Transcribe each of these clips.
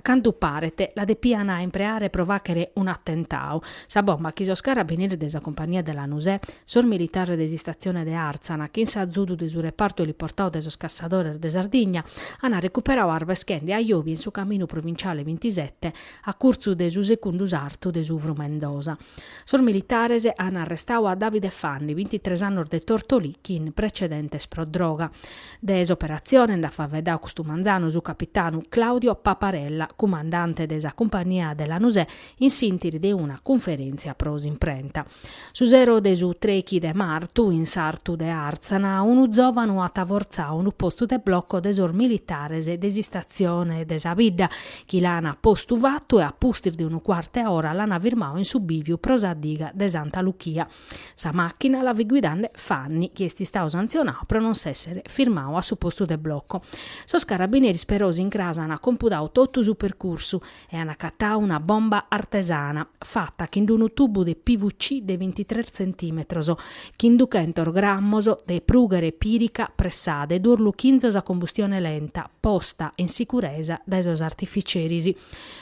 A cantu paret la depian impreare pro fàchere un'atentau. Sa bomba chi sos carabineris de sa cumpagnia de Lanusè, sos militares de s'istatzione de Àrzana chin s'azudu de su repartu eliportau de sos cassadores de Sardigna, ant recuperau arbeschende a jòvia in su caminu provinciale bintisete A curtzu de su secundu sartu de su Frumendosa, sos militares an arrestau a Davide Fanni, bintitres annos de Tortolì, chin precedentes pro droga. De s'operatzione nd'at faveddau custu manzanu su capitanu Claudio Paparella, cumandante de sa cumpagnia de Lanusè, in s'intiri de una cunferèntzia pro s'imprenta. Su sero de su trechi de martu, in sartu de Àrzana, unu zòvanu at forzau unu postu de bloco de sos militares de s'istatzione de sa bidda, chi l'an postu fatu e a pustis de unu cuartu 'e ora l'an firmau in su bìviu pro sa diga de Santa Luchia. Sa màchina la fit guidende Fanni, chi est istau santzionau pro non s'èssere firmau a su postu de bloco. Sos carabineris però s'incràs an compudau totu su percursu e an acatau una bomba artesana fata chin d-unu tubu de PVC de bintitres tzentìmetros, chin duchentos grammos de prughere pìrica pressada e duos luchinzos a combustione lenta posta in sicuresa dae sos artificeris.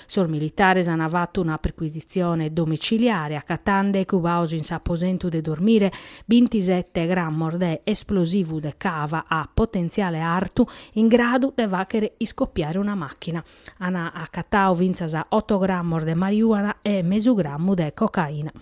Sos militares an fatu una perquisitzione domiciliare acatende cubaos in s'aposentu de dormire bintisete grammos de esplosivu de cava a potentziale artu in gradu de fàchere iscopiare una màchina. An acatau fintzas oto grammos de mariuana e mesu grammu de cocaina.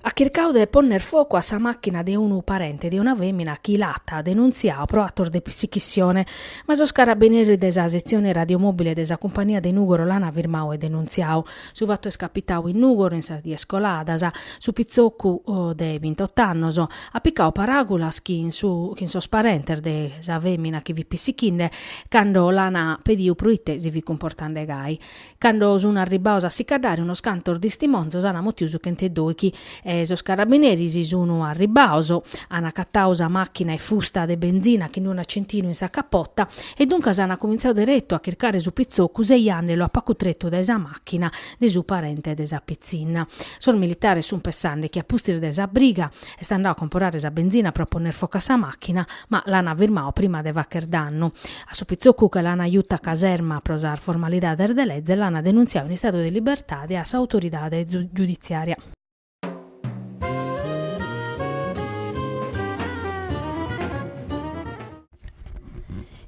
At chircau de ponner focu a sa machina de unu parente de una femina chi l'at denuntziau pro atos de pissichissione, ma sos carabineris de sa setzione radiomobile de sa cumpagnia de Nugoro l'an firmau e denuntziau. Su fatu est capitau in Nùgoro in sas dies coladas. Su pitzocu de bintotto annos at picau paràgulas chin su chin sos parentes de sa fèmina chi fit pissichinde cando l'an pediu pro ite si fit cumportande gai. Cando sun arribbaos a si caddare unos cantos distimonzos an mutiu su chent'e dòichi E sos carabineris sunu arribbaos, an acatau sa machina ifusta de benzina chin d-un'acendinu in sa capota e duncas an cumintzau deretu a chircare su pitzoccu seiandelo a pacu tretu dae sa machina de su parente de sa pitzinna. Sos militares sun pessande chi a pustis de sa briga est andau a comporare sa benzina pro ponner focu a sa machina, ma l'ana firmau prima de facher dannu. A su pitzocu che l'ana jutu a caserma pro sas formalidades de leze l'an denuntziau in istadu de libertade a s'autoridade giuditziària.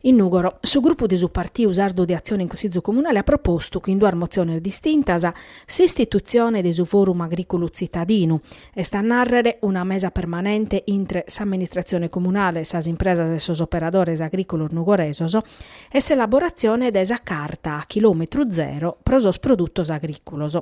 In Nùgoro, su grupu de su Partiu Sardu de Atzione in Cussizu Comunale at propostu, chin duas motziones distintas, s'istitutzione de su Forum Agrìculu Tzitadinu, Est a nàrrere una mesa permanente intre s'amministratzione comunale, sas impresas e sos operadores agrìculos nugoresos e s'elaboratzione de sa carta a chilòmetru zero pro sos produtos agrìculos.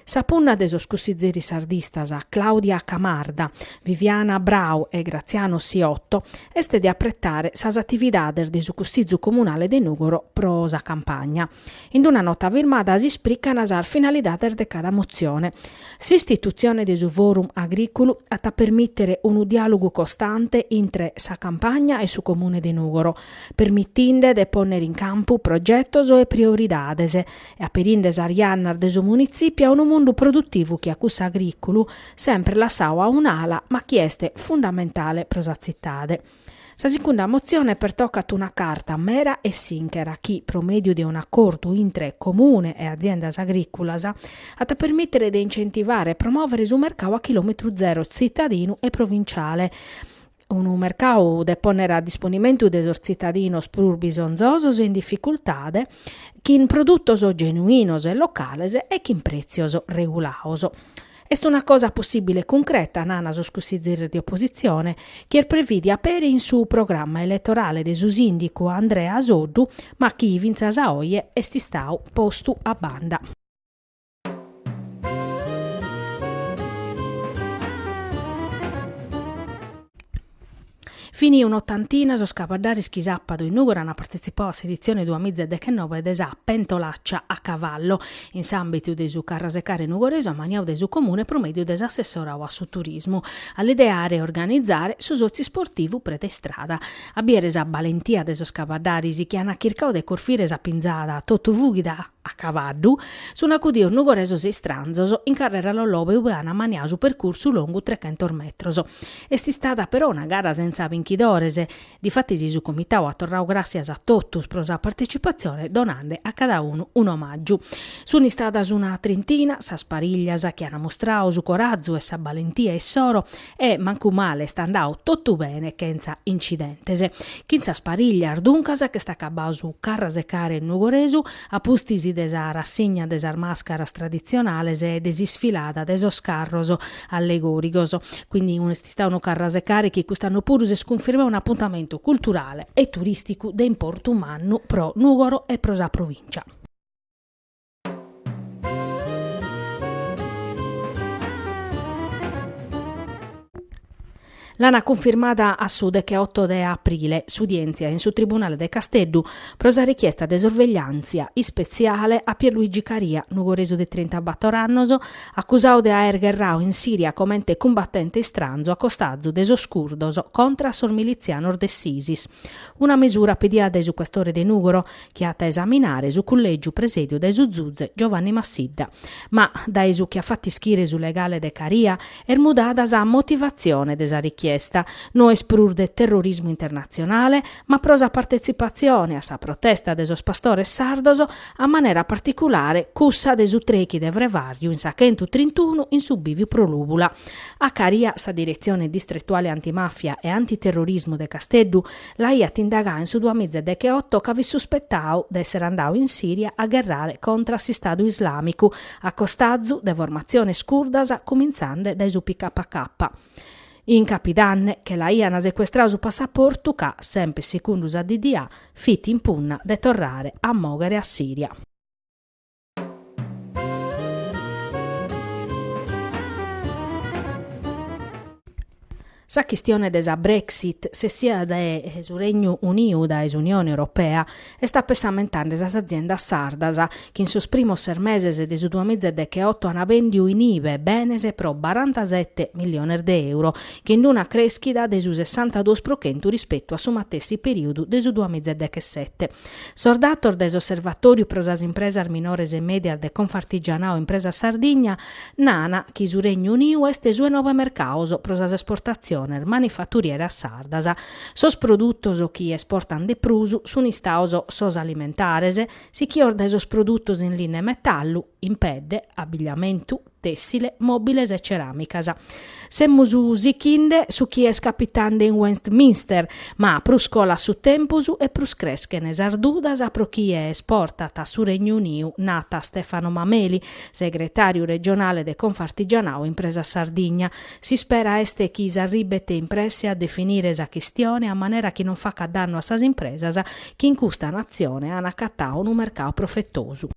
Sa punna de sos cussizeris sardistas Claudia Camarda, Viviana Brau e Graziano Siotto est de apretare sas atividades de su Cussizu Comunale de Nùgoro pro sa campagna In d'una nota firmada s'isprican sas finalidades de cada motzione. S'istitutzione de su Forum Agrìculu at a permìtere unu diàlogu costante intre sa campagna e su Comune de Nùgoro, permitinde de pònnere in campu progetos e prioridades e aperinde sas jannas de su Munitzìpiu a unu mundu produtivu che a cussu agrìculu, sempre lassau a un'ala, ma chi est fundamentale pro sa tzitade. Sa sicunda motzione pertocat una carta mera e sinchera chi, pro mèdiu de un'acordu intre Comune e aziendas agrìculas, at a permìtere de incentivare e promòvere su mercadu a chilòmetru zero tzitadinu e provinciale, unu mercadu de pònnere a disponimentu de sos tzitadinos prus bisonzosos in dificultade, chin produtos genuinos e locales e chin prètzios regulaos. Est una cosa possibile e cuncreta, nana sos cussizeris de oppositzione, chi est prevìdia peri in su programma eletorale de su sìndicu Andrea Soddu, ma chi fintzas a oje est istau postu a banda. Fini un'otantina sos cabaddaris chi sapadu in Nugoro ana partetzipau a s'editzione duamiza e dechennobe de sa Pentolaccia a cavallo, in s'ambitu de su Carrasecare Nugoresu ammaniau de su Comune pro mediu de s'assessorau a su Turismu, a l'ideare e organizare su soziu sportivu Preda 'e Istrada. A biere sa balentia de sos cabaddaris chi ana chircau de corfire sa pinzada a totu fughida a cabaddu, sun acudios nugoresos e istranzos in carrera Lollobe ube ana ammaniau su percursu longu trechentos metros. Est istada però una gara senza binchidores, difatis su comitau at torrau gràtzias a totus pro sa partecipatzione donande a cada unu un'omàgiu. Sunt istadas una trintina sas pariglias chi an mustrau su corazu e sa balentia issoro e, mancu male, est andau totu bene chentza incidentes. Chin sas pariglias, duncas, ch'est acabbau su Carrasecare Nugoresu, A pustis de sa rassigna de sas màscaras traditzionales e de s'isfilada de sos carros allegòrigos, quindi est istadu unu carras'e càri chi cust'annu puru s'est cunfirmau un'apuntamentu culturale e turìsticu de importu mannu pro Nùgoro e pro sa provìncia. L'ana cunfirmada a su decheotto de aprile s'udièntzia in su tribunale de Casteddu pro sa richiesta de sorvegliàntzia ispetziale a Pierluigi Caria, nugoresu de trintabator annos, acusadu de aer gherradu in Sìria comente cumbatente istranzu a costazu de sos curdos contra a sos militzianos de s'Isis. Una mesura pedia dae su questore de Nùgoro, chi at a esaminare su cullègiu presèdiu dae su zuze Giovanni Massidda. Ma dae su chi at fatu ischire su legale de Caria, Est mudada sa motivatzione de sa richiesta, no est prus de terrorismu internatzionale, ma pro sa partetzipatzione a sa protesta de sos pastores sardos, a manera particulare cussa de su trechi de Frevàrriu in sa chentu trintunu in su bìviu pro Lùbula. A Caria, sa Diretzione Distretuale Antimàfia e Antiterrorismu de Casteddu l'aiat indagadu in su duamiza e decheoto ca fit suspetadu de èssere andadu in Sìria a gherrare contra s'Istadu Islàmicu, A costazu de formatziones curdas cumintzande dae su PKK. In Capidanne, che l'aian secuestradu su passaportu ca, semper segundu sa DDA, fit in punna de torrare a moghere a Siria. Sa chistione de sa Brexit, s'essia de su Regnu Uniu dae s'Unione Europea, est apessamentande sas aziendas sardas, chi in sos primos ses meses de su duamiza e decheoto ant bèndiu in ibe benes pro barantasete milliones de euro, chin d'una crèschida de su sessantaduos pro chentu rispetu a su matessi perìodu de su duamiza e dechesete. Sos datos de s'Osservatòriu pro sas impresas minores e mèdias de Confartigianao Impresas Sardigna, Nana chi su Regnu Uniu est su 'e nobe mercaos pro sas esportatziones manifaturieras sardas. Sos produtos chi esportant de prus sun istaos sos alimentares, sichios dae sos produtos in linna e metallu, in pedde, abigliamentu, tessile, mobiles e ceramicas. Semus sichinde su chi est capitande in Westminster, ma prus colat su tempus e prus creschene sas dudas pro chie esportat a su Regnu Uniu, nat Stefano Mameli, segretàriu regionale de Confartigianao Impresas Sardigna. S'ispera est chi s'arribbet in presse a definire sa chistione a manera chi non facat dannu a sas impresas chi in custa Natzione an acatadu unu mercadu profetosu.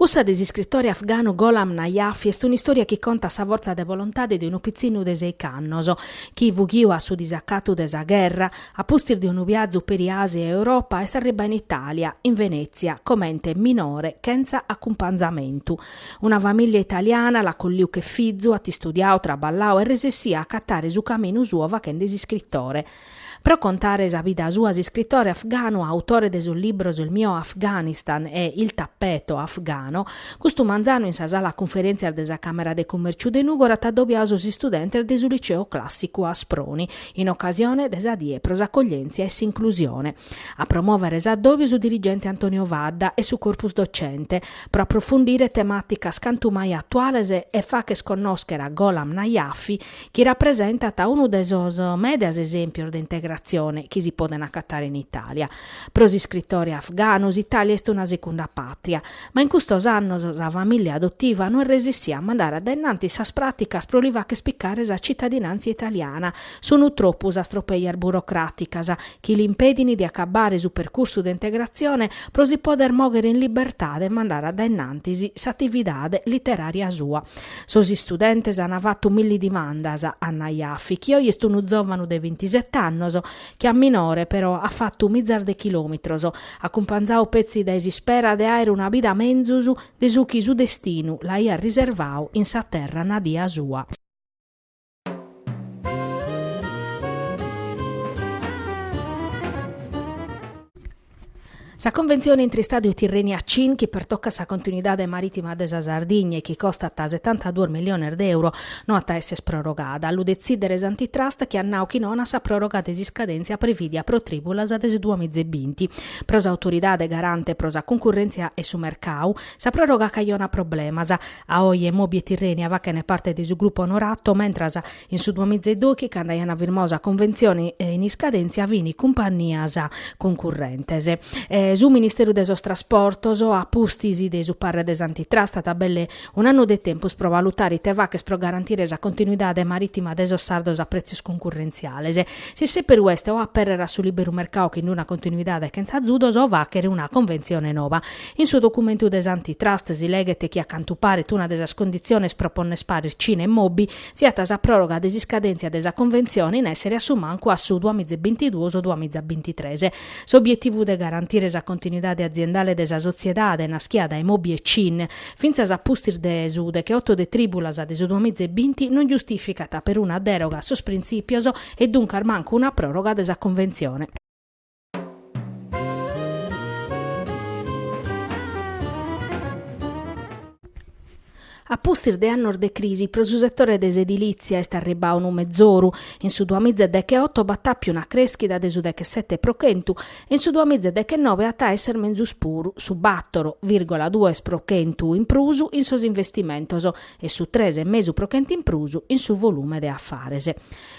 Cussa de s'iscritore afganu Gholam Najafi est un'istòria chi contat sa fortza de volontade de unu pitzinnu de seich'annos, chi, fughiu a su disacatu de sa gherra, a pustis de unu biazu peri Àsia e Europa, est arribau in Itàlia, in Venètzia, comente minore chentza acumpanzamentu. Una famìllia italiana l'at acolliu che fizu, at istudiau, traballau e resessìa a acatare su caminu suo faghende s'iscritore. Pro contare sa vida sua s'iscritore afganu, autore de sos libros Il mio Afghanistan e Il tappeto afgano, custu manzanu in sa sala cunferèntzias de sa Càmera de Cumèrciu de Nùgoro at adobiau sos istudentes de su Liceo Clàssicu Asproni in ocasione de sa Die pro s'acoglièntzia e s'inclusione. A promòvere s'adòbiu su dirigente Antonio Fadda e su corpus docente, pro aprofundire temàticas cantu mai atuales e fagher connòschere a Gholam Najafi chi rapresentat unu de sos medas esèmpios de integratzione chi si podent acatare in Itàlia. Pro s'iscritore afganu s'Itàlia est una segunda pàtria, ma in custos annos sa famìllia adotiva no est resessia a mandare a dae in antis sas pràticas pro li fàghere picare sa tzitadinàntzia italiana. Sunt tropu sas tropèias burocràticas chi li impedint de acabbare su percursu de integratzione pro si pòdere mòghere in libertade e mandare a dae in antis s'atividade literària sua. Sos istudentes an fatu milli dimandas a Najafi, chi oje est unu zòvanu de bintiset'annos, chi a minore, però, at fatu mizas de chilòmitros, acumpanzau petzi dae s'ispera de àere una bida menzus de su chi su destinu l'aiat riservau in sa terra nadia sua. Sa conventzione intre Istadu e Tirrenia Cin chi pertocat sa continuidade marìtima de sa Sardigna e chi costat setantaduos miliones de euro no at a èssere prorogada. A lu detzìdere s'Antitrust chi at nau chi nono a sa pròroga de s'iscadèntzia prevìdia pro trìbulas de su duamiza e binti. Pro s'Autoridade garante pro sa Cuncurrèntzia e su Mercau, sa pròroga cajonat problemas. A oje Moby e Tirrenia faghene parte de su grupu Onorato, mentras in su duamizedochi, cando aiana firmau sa conventzione in iscadentzia, fini cumpannias cuncurrentes. Su Ministeru de sos Trasportos, a pustis de su parrer de s'Antitrust, at belle un'annu de tempus pro valutare ite fagher pro garantire sa continuidade maritima de sos sardos a pretzios cuncurrentziales. Su seperu est o aperrer a su liberu mercau chin una continuidade chentz azudos o fagher una conventzione noba. In su documentu de s'Antitrust si leghet chi a cantu paret una de sas conditziones pro ponner paris Cin e Moby siat sa pròroga de s'iscadèntzia de sa conventzione in èssere a su mancu a su duamiza e bintiduos o duamiza e bintitres. S'obietivu de garantire sa continuidade aziendale de sa sotziedade naschia dae Moby e Cin fintzas a pustis de su degheoto de trìbulas de su duamiza e binti non giustìficat peruna dèroga a sos printzìpios e duncas mancu una pròroga de sa conventzione. A pustis de annos de crisi, pro su setore de s'edilìtzia est arribbau unu mezoru, in su duamiza decheoto b'at àppiu una crèschida de su duos e sete pro chentu e in su duamiza dechenove at a èssere menzus puru, su bàtoro virgola dues pro chentu in prus in sos investimentos e su tres e mesu pro chentu in prus in su volume de afares.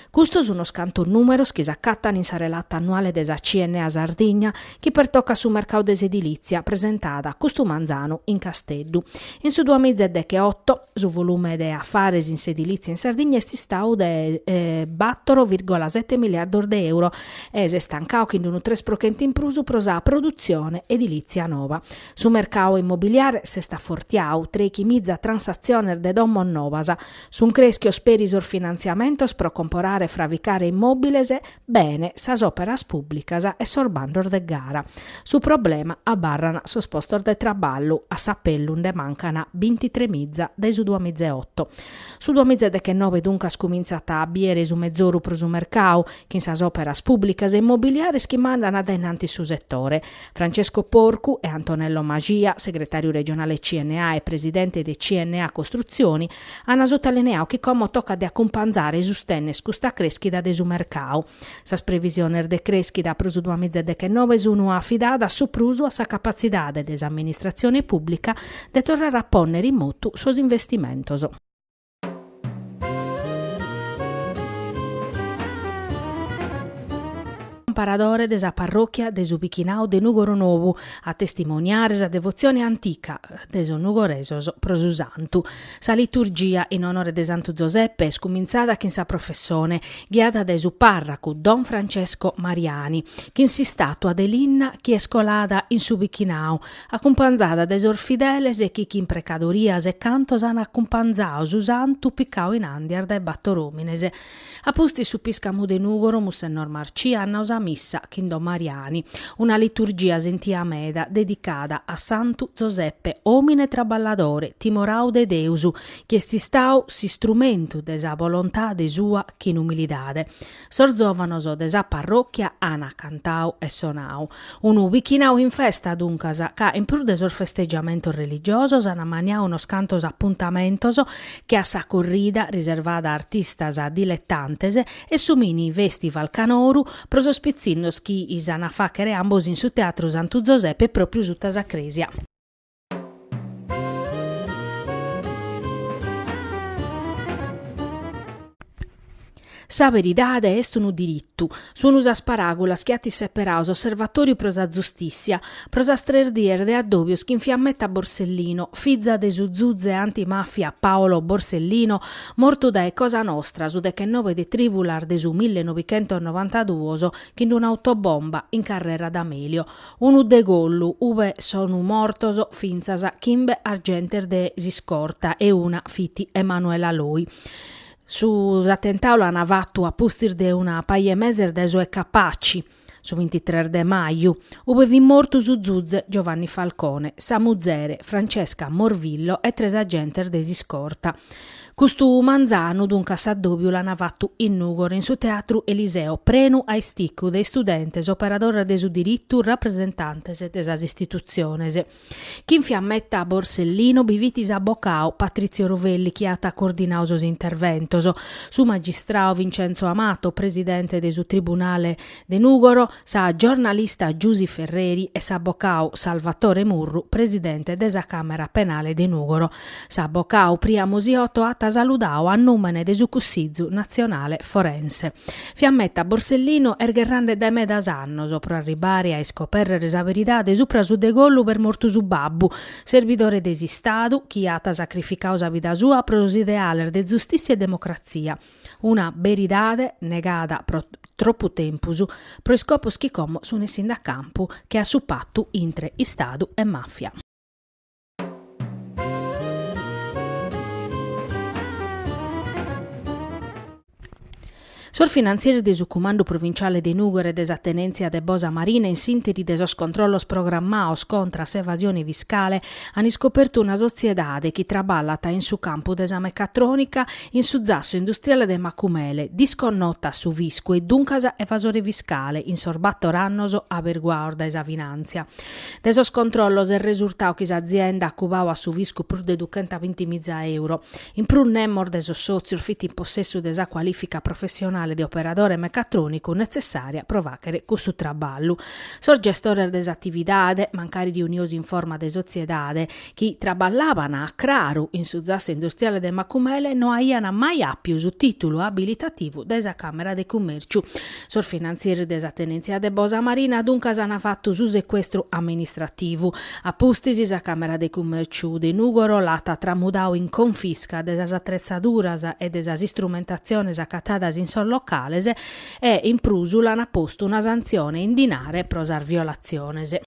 Custos unos cantos nùmeros chi s'acatan in sa relata annuale de sa CNA Sardigna chi pertocat su mercadu de s'edilìtzia presentada custu manzanu in Casteddu. In su duamiza e decheoto su volume de afares in s'edilìtzia in Sardigna est istau de bàtoro vìrgola sete miliardos de euro e s'est tancau chin unu tres pro chent'in prus pro sa produtzione edilìtzia nova. Su mercadu immobiliare s'est afortiau, trèichi miza transatziones de domos novas, Sunt crèschios peri sos finantziamentos pro comporare e fraficare immòbiles, bene, sas òperas pùblicas e sos bandos de gara. Su problema abarran sos postos de traballu, a s'apellu nde mancan bintitremiza dae su duamizeoto. Su duamizedechenove duncas cumintzat a bìere su mezoru pro su mercadu, chin sas òperas pùblicas e immobiliares chi mandan a dainanti su setore. Francesco Porcu e Antonello Mascia, segretàriu regionale CNA e presidente de CNA Costruzioni, ana sutalineau chi como tocat de acumpanzare e sustènner custa crèschida de su mercau. Sas previsiones de crèschida pro su duamizadechenove sunu afidadas su prusu a sa capatzidade de s'amministratzione pùblica de torrare a pònnere in motu sos investimentos. Amparadore de sa parròchia de su Pichinau de Nùgoro Nobu a testimoniare sa devotzione antica de sos nugoresos pro su santu. Sa liturgia in onore de Santu Zoseppe est cumintzada chin sa professone, ghiada dae su pàrracu don Francesco Mariani, chin s'istàtua de linna chi est colada in su Pichinau, Acumpanzada de sos fideles chi chin precadorias e cantos an acumpanzau su Santu picau in àndias dae bator òmines. A pustis su piscamu de Nùgoro Mussennor Marcia at nau sa missa chin don Mariani, una liturgia sentia meda dedicada a Santu Zoseppe, òmine traballadore, timorau de Deus, chi est istau s'istrumentu de sa bolontade sua chin umilidade. Sos zòvanos de sa parròchia an cantau e sonau, unu bichinau in festa duncas, ca in prus de sos festegiamentos religiosos an ammaniau unos cantos apuntamentos che a sa corrida, riservada a artistas diletantes, e su mini festival canoru pro sos pitzinnos chi s'an a fàghere ambos in su Teatru Santu Zoseppe pròpiu suta sa crèsia. Sa beridade est unu diritu, sunu sas paràgulas chi at seperadu s'Osservatòriu pro sa Zustìssia pro sas tres dies de addòbios chin Fiammetta Borsellino, fiza de su zuze antimàfia Paolo Borsellino, mortu dae Cosa Nostra su dechenobe de trìbulas de su millenovichentosnovantaduos, chin un'autobomba in Carrera D'Amelio, Unu degollu ue sunu mortos fintzas chimbe agentes de s'iscorta e una fit Emanuela Loi. Cuss'atentau l'ana fatu a pustis de una paja 'e meses dae su 'e Capaci, su bintitres de maju, ue fit mortu su zuze Giovanni Falcone, sa muzere Francesca Morvillo e tres agentes de s'iscorta. Custu manzanu duncas s'addòbiu l'ant fatu in Nùgoro in su Teatru Eliseo, prenu a isticcu de istudentes, operadores de su diritu, rapresentantes de sas istitutziones. Chin Fiammetta Borsellino bi fit s'abocadu Patrizio Rovelli chi at cordinadu sos interventos, su magistradu Vincenzo Amato, presidente de su Tribunale de Nùgoro, sa giornalista Giusy Ferreli e s'abocau Salvatore Murru, presidente de sa Càmera Penale de Nùgoro. S'abocau Priamo Siotto at saludau a nùmene de su Cussizu natzionale forense. Fiammetta Borsellino est gherrande dae medas annos pro arribare a iscopèrrere sa beridade supra su degollu ube est mortu su babbu, serbidore de s'Istadu, chi at sacrificau sa vida sua pro sos ideales de zustissia e democratzia. Una beridade negada pro tropu tempus pro iscopos chi como sun essinde a campu che a su patu intre Istadu e mafia. Sos finantzieris de su Cumandu Provinciale de Nùgoro e de sa Tenèntzia de Bosa Marina in s'interi de sos controllos programmados contra s'evasione fiscale an iscopertu una sotziedade chi traballat in su campu de sa mecatrònica In su zassu industriale de Macumele, disconnota a su fiscu e duncas evasore fiscale, in sos bàtor annos aberguados dae sa finàntzia. Dae sos controllos est resurtadu chi s'azienda at cubadu a su fiscu prus de duchenta binti miza euro. In prus nemos de sos sòtzios fit in possessu de sa cualìfica professionale de operadore mecatrònicu netzessària pro fàghere cussu traballu. Sos gestores de s'atividade, mancari riunios in forma de sotziedade, chi traballaban a craru in su zassu industriale de Macumele no aian mai àpiu su tìtulu abilitativu dae sa Càmera de Cummèrciu. Sos finantzieris de sa tenèntzia de Bosa Marina duncas ant fatu su secuestru amministrativu. A pustis sa Càmera de Cummèrciu de Nùgoro l'at tramudadu in confisca de sas atretzaduras e de sas istrumentatziones acatadas in sos locales e in prus l'ant postu una santzione in dinare pro sas violatziones.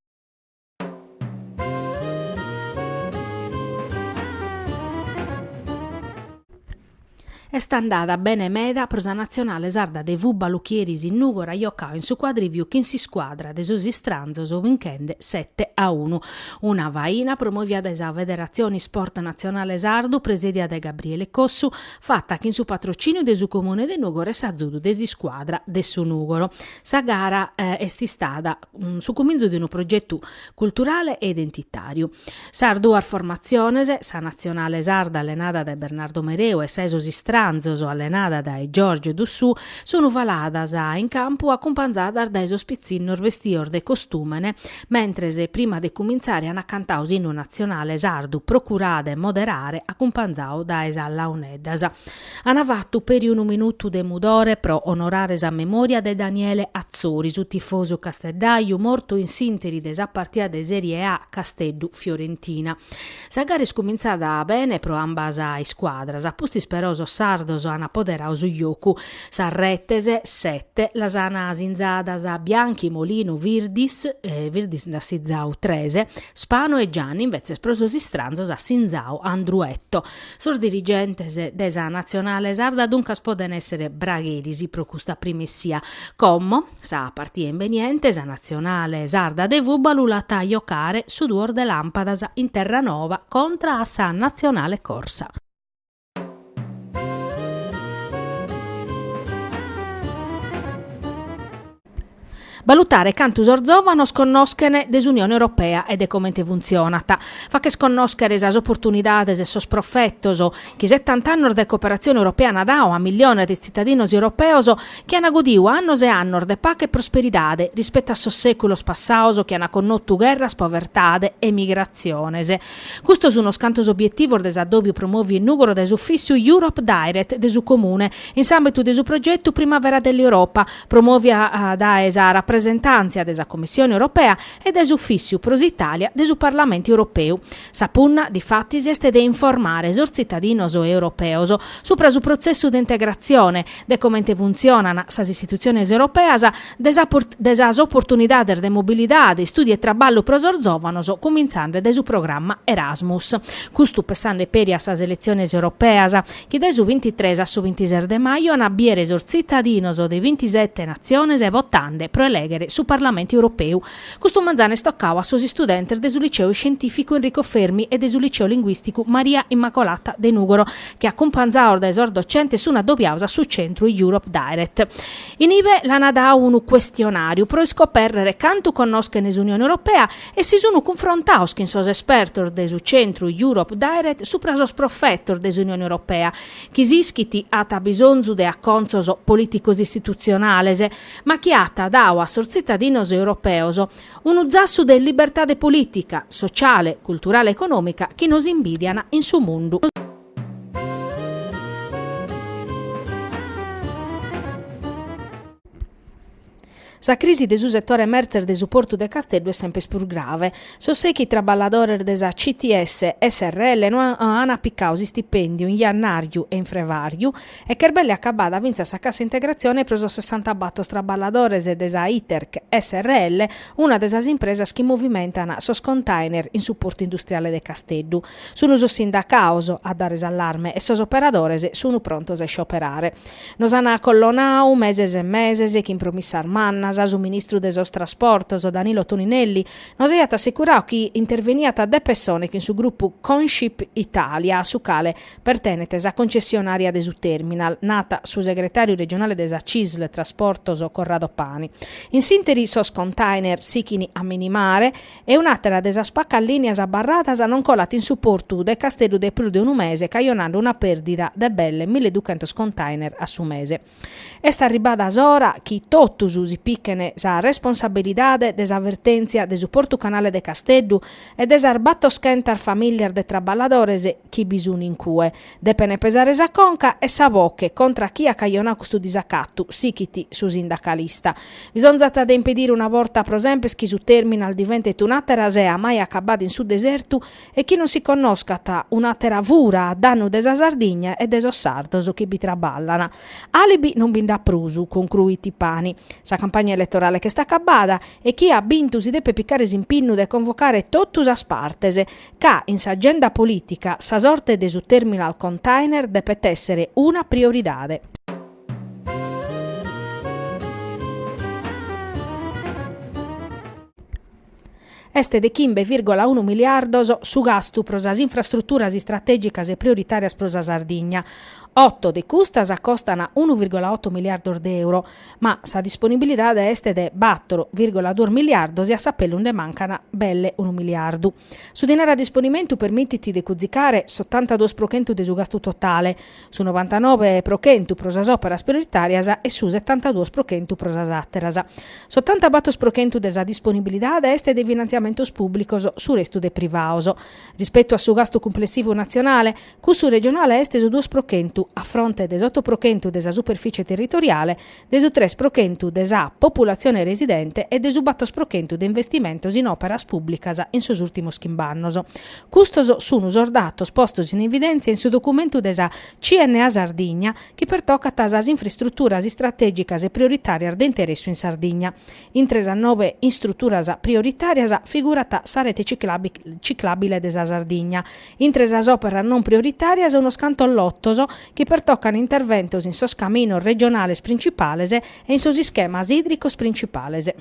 Est andada bene meda pro sa natzionale sarda de fùbalu chi eris in Nùgoro at jocadu in su cuadrìviu chin s'iscuadra de sos istranzos binchende sete a unu. Una faina promòvia dae sa Federatzione Isport Natzionale Sardu presèdia dae Gabriele Cossu fata chin su patrocìniu de su Comune de Nùgoro e s'azudu de s'iscuadra de su Nùgoro. Sa gara est istada su cumintzu de unu progetu culturale e identitàriu. Sas duas formatziones, sa natzionale sarda allenada dae Bernardo Mereu e sa 'e sos Istranzos allenada dae Giorgio Dussù, sun faladas in campu acumpanzadas dae sos pitzinnos bestios de costùmene, mentres prima de cumintzare ant cantadu s'innu natzionale sardu Procurade 'e moderare acumpanzadu dae sas launeddas. Ana fatu peri unu minutu de mudore pro onorare sa memòria de Daniele Atzori, su tifosu casteddaju mortu in s'interi de sa partida de Serie A Casteddu-Fiorentina. Sa gara est cumintzada bene pro ambas iscuadras, a pustis però sos sardos an apoderadu su jocu. Sas retes, sete, las an sinzadas Bianchi, Molinu, Virdis, Virdis nd'at sinzadu tres, Spano e Gianni invètzes pro sos istranzos at sinzadu Andruetto. Sos dirigentes de sa natzionale sarda duncas podent èssere bragheris pro custa primessia. Como sa partia imbeniente, sa natzionale sarda de fùbalu l'at a jocare su duos de làmpadas in Terranova contra a sa natzionale corsa. Balutare cantu sos zòvanos connoschen de s'Unione Europea e de comente funtzionat. Fàcher connòschere sas oportunidades e sos profetos chi setant'annos de cooperatzione europea an dadu a milliones de tzitadinos europeos chi an godidu annos e annos de pache e prosperidade rispettu a sos sèculos passados chi an connotu gherras, povertade e migratziones. Custos unos cantos obietivos de s'adòbiu promòviu in Nùgoro dae s'ufìssiu Europe Direct de su Comune in s'àmbitu de su progetu Primavera dell'Europa, Promovia dae sa rapresentàntzia de sa Commissione Europea e dae s'Ufìssiu pro s'Itàlia de su Parlamentu Europeu, sa punna, difatis, est de informare sos tzitadinos europeos supra su protzessu de integratzione, de comente funtzionan sas istitutziones europeas, de sas oportunidades de mobilidade, istùdiu e traballu pro sos zòvanos, cumintzande dae su programma Erasmus. Custu pessande peri a sas eletziones europeas, chi dae su bintitres a su bintises de maju an a biere sos tzitadinos de bintisete natziones votande pro eleghere su Parlamentu Europeu. Custu manzanu est tocadu a sos istudentes de su Liceu Iscientìficu Enrico Fermi e de su Liceu Linguìsticu Maria Immacolata de Nùgoro, chi acumpanzados dae sos docentes sun adobiados a su centru Europe Direct. In ibe l'an dadu unu cuestionàriu pro iscopèrrere cantu connoschent s'Unione Europea e si sunu cunfrontaus chin sos espertos de su centru Europe Direct supra sos profettos de s'Unione Europea, chi s'ischit at bisonzu de acontzos politicos-istitutzionales, ma chi at dadu a sos tzitadinos europeos unu zassu de libertade polìtica, sociale, culturale e econòmica chi nos imbìdian in su mundu. Sa crisi de su setore mertzes de su portu de Casteddu est semper prus grave. Sos sechi traballadores de sa CTS srl no an apicadu s'istipèndiu in jannàriu e in frevàriu e ch'est belle acabbada fintzas sa cassa integratzione pro sos sessantabatos traballadores de sa Iterc srl, una de sas impresas chi movimentan sos container in su portu industriale de Casteddu. Sunu sos sindacaos a dare s'allarme e sos operadores sunu prontos a iscioperare. Nos an collonau meses e meses chin promissas mannas, su ministru de sos trasportos, Danilo Toninelli, nos aiat assicurau chi interveniat de pessone chin su grupu Contship Italia a su cale pertenet sa concessionària de su terminal, nat su segretàriu regionale de sa Cisl Trasportos Corrado Pani. In s'ìnteri sos container sichint a minimare e un'àtera de sas pacas lìneas abarradas non colat in su portu de Casteddu de prus de unu mese cajonande una pèrdida de belle mille duchentos container a su mese. Est arribbada s'ora chi totus si pichen sa responsabilidade de sa vertèntzia de su portu canale de Casteddu e de sas battoschentas famìlias de traballadores chi bi sunt in cue, Depene pesare sa conca e sa boche contra a chie at cajonau custu disacatu, sichit su sindacalista. Bisonzat de impedire una borta pro sempes chi su Terminal diventet un'àtera sea mai acabada in su desertu e chi non si connoscat un'àtera fura a dannu de sa Sardigna e de sos sardos chi bi traballan. Alibi non bi nd'at prus, concruit Pani. Sa campagna eletorale ch'est acabada e chie at bintu si depet picare s'impinnu de convocare totu sas partes ca in s'agenda polìtica sa sorte de su terminal container depet èssere una prioridade. Est de chimbe vìrgola unu miliardos su gastu pro sas infrastruturas istratègicas e prioritàrias pro sa Sardigna, oto de custas costan unu vìrgola oto miliardos de euro, ma sa disponibilidade est de batoro virgola duos miliardos e a s'apellu nde mancan belle unu miliardu. Su dinare a disponimentu permitit de cuzicare s'otantaduos pro chentu de su gastu totale, su novantanove pro chentu pro sas operas prioritarias e su setantaduos pro chentu pro sas ateras. S'otantabatos pro chentu de sa disponibilidade est de finantziamentos publicos, su restu de privaos. Rispettu a su gastu cumplessivu natzionale, Cussu regionale est su duos pro chentu, a fronte de s'oto pro chentu de sa superfìcie territoriale, de su tres pro chentu de sa populatzione residente e de su bator pro chentu de investimentos in òperas pùbblicas in sos ùrtimos chimb'annos. Custos sunt sos datos postos in evidèntzia in su documentu de sa CNA Sardigna chi pertocat sas infrastruturas istratègicas e prioritàrias de interessu in Sardigna. Intre sas nobe istruturas prioritàrias figurat sa rete ciclàbile de sa Sardigna, Intre sas òperas non prioritàrias unos cantos lotos chi pertocan interventos in sos caminos regionales principales e in sos ischemas ìdricos principales.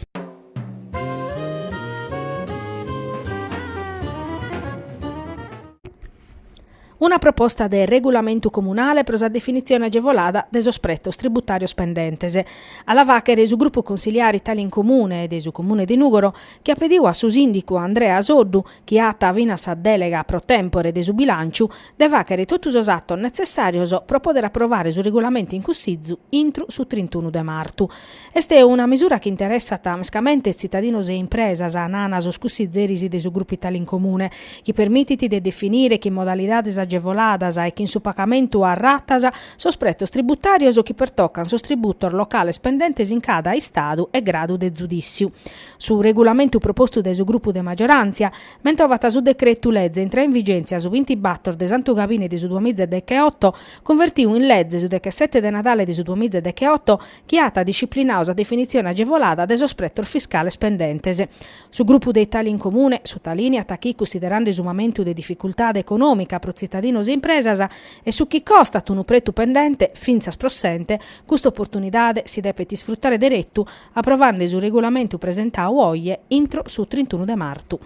Una proposta de regulamentu comunale pro sa definitzione agevolada de sos pretos tributàrios pendentes. A la fàghere su grupu consiliare Italia in Comune de su Comune de Nùgoro, chi at pedidu a su sìndicu Andrea Soddu chi at finas sa dèlega pro tempore de su bilànciu, de fàghere totu sos atos netzessàrios pro pòdere aprovare su regulamentu in Cussizu intro su trintunu de martu. Est una misura chi interessat mescamente tzitadinos e impresas, nana sos cussizeris de su grupu Italia in Comune, chi permitit de definire chin modalidades agevoladas e chin su pagamentu a ratas sos pretos tributàrios chi pertocan sos tributos locales pendentes in cada istadu e gradu de zudìssiu. Su regulamentu propostu dae su grupu de magioràntzia mentovat su decretu leze intrau in vigèntzia su bintibator de Santu Gabine de su duamiza e deghe e oto, cunvertiu in leze su dechesete de Nadale de su duamiza e deghe e oto, chi at disciplinadu sa definitzione agevolada de sos pretos fiscales pendentes. Su grupu de Italia in Comune sutalìniat chi, cunsiderande su mamentu de dificultade econòmica pro tzitadinos e impresas e su chi costat unu pretu pendente fintzas pro s'ente, custa oportunidade si depet isfrutare deretu aprovande su regulamentu presentadu oje intro su trintunu de martu.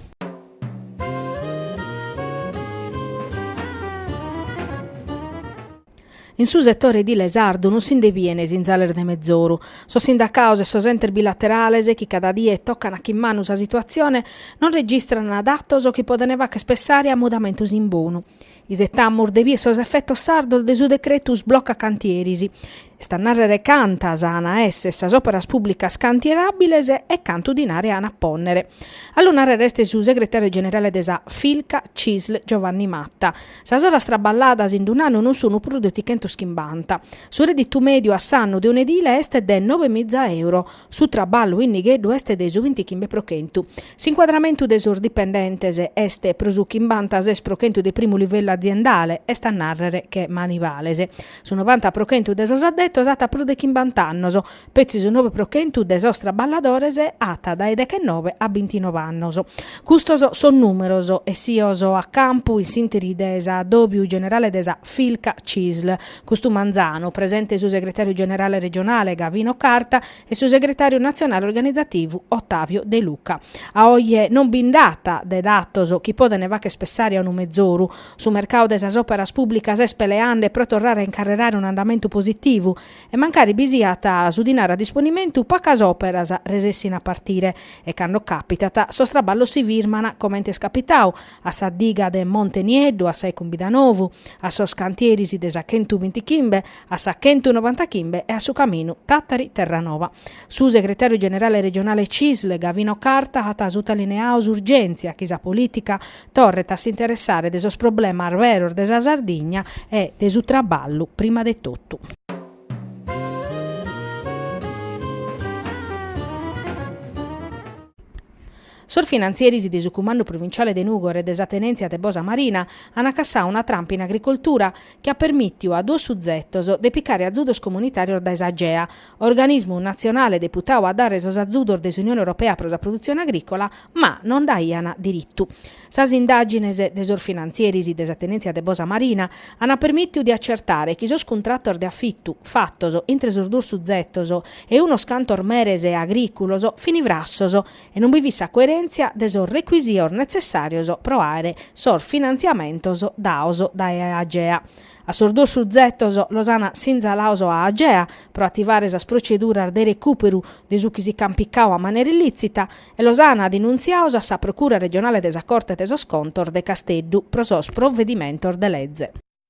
In su setore edile sardu non si nde biene sinzales de mezoru. Sos sindacados e sos entes bilaterales, chi cada die tocan chin manu sa situazione, non registran datos chi podene fagher pessare a mudamentos in bonu. Isetamus de bier sos efetos sardos de su decretu sblocca cantieris, est a nàrrere cantas an a èssere sas òperas pùblicas cantieràbiles e cantu dinare an a pònnere. A lu nàrrere est su segretàriu generale de sa Filca Cisl, Giovanni Matta. Sas oras traballadas in un'annu non sunt prus de otichentos chimbanta. Su rèdditu mèdiu a s'annu de un'edile est de nobe miza euro, Su traballu in nigheddu est de su bintichimbe pro chentu. S'incuadramentu de sos dipendentes est pro su chimbantases pro chentu de primu livellu aziendale, est a nàrrere che manivales. Su novanta pro chentu de sos addetos at prus de chimbant'annos, petzi su nove pro chentu de sos traballadores at dae dechennove a bintinove annos. Custos sos nùmeros, essios a campu in s'interi de sa adòbiu generale de sa Filca Cisl, custu manzanu, presente su segretàriu generale regionale Gavino Carta e su segretàriu natzionale organizativu Ottavio De Luca. A oje non bi nd'at de datos chi podent fàghere spessare a unu mezoru. Su mercadu de sas òperas pùblicas est peleande pro torrare a incarrerare un'andamentu positivu e mancare bi siat su dinare a disponimentu pacas òperas resessint a partire e cando càpitat sos traballos si firman comente est capitau a sa diga de Monte Nieddu, a sa 'e Cumbidanovu, a sos cantieris de sa chentu bintichimbe, a sa chentu novantachimbe e a su caminu Tàtari-Terranova. Su segretàriu generale regionale Cisl, Gavino Carta, at sutalineau s'urgèntzia chi sa polìtica torret a s'interessare de sos problemas beros de sa Sardigna e de su traballu prima de totu. Sos finantzieris de su Cumandu Provinciale de Nùgoro e de sa Tenèntzia de Bosa Marina an cassau una trampa in agricoltura chi at permìtiu a duos suzetos de picare azudos comunitàrios dae s'Agea, organismu natzionale deputau a dare sos azudos de s'Unione Europea pro sa produtzione agrìcola, ma non nd'aian diritu. Sas indàgines de sos finantzieris de sa Tenèntzia de Bosa Marina an permìtiu de acertare chi sos cuntratos de afitu fatos intre sos duos suzetos e unos cantos meres agrìculos fin frassos e non bi fit sa coerèntzia de sos recuisios netzessàrios pro àere sos finantziamentos daos dae Agea. A sos duos suzetos los an sinzalaos a Agea pro ativare sas proceduras de recùperu de su chi si c'an picau a manera illìtzita e los an denuntziaos a sa Procura regionale de sa Corte de sos Contos de Casteddu pro sos provedimentos de leze.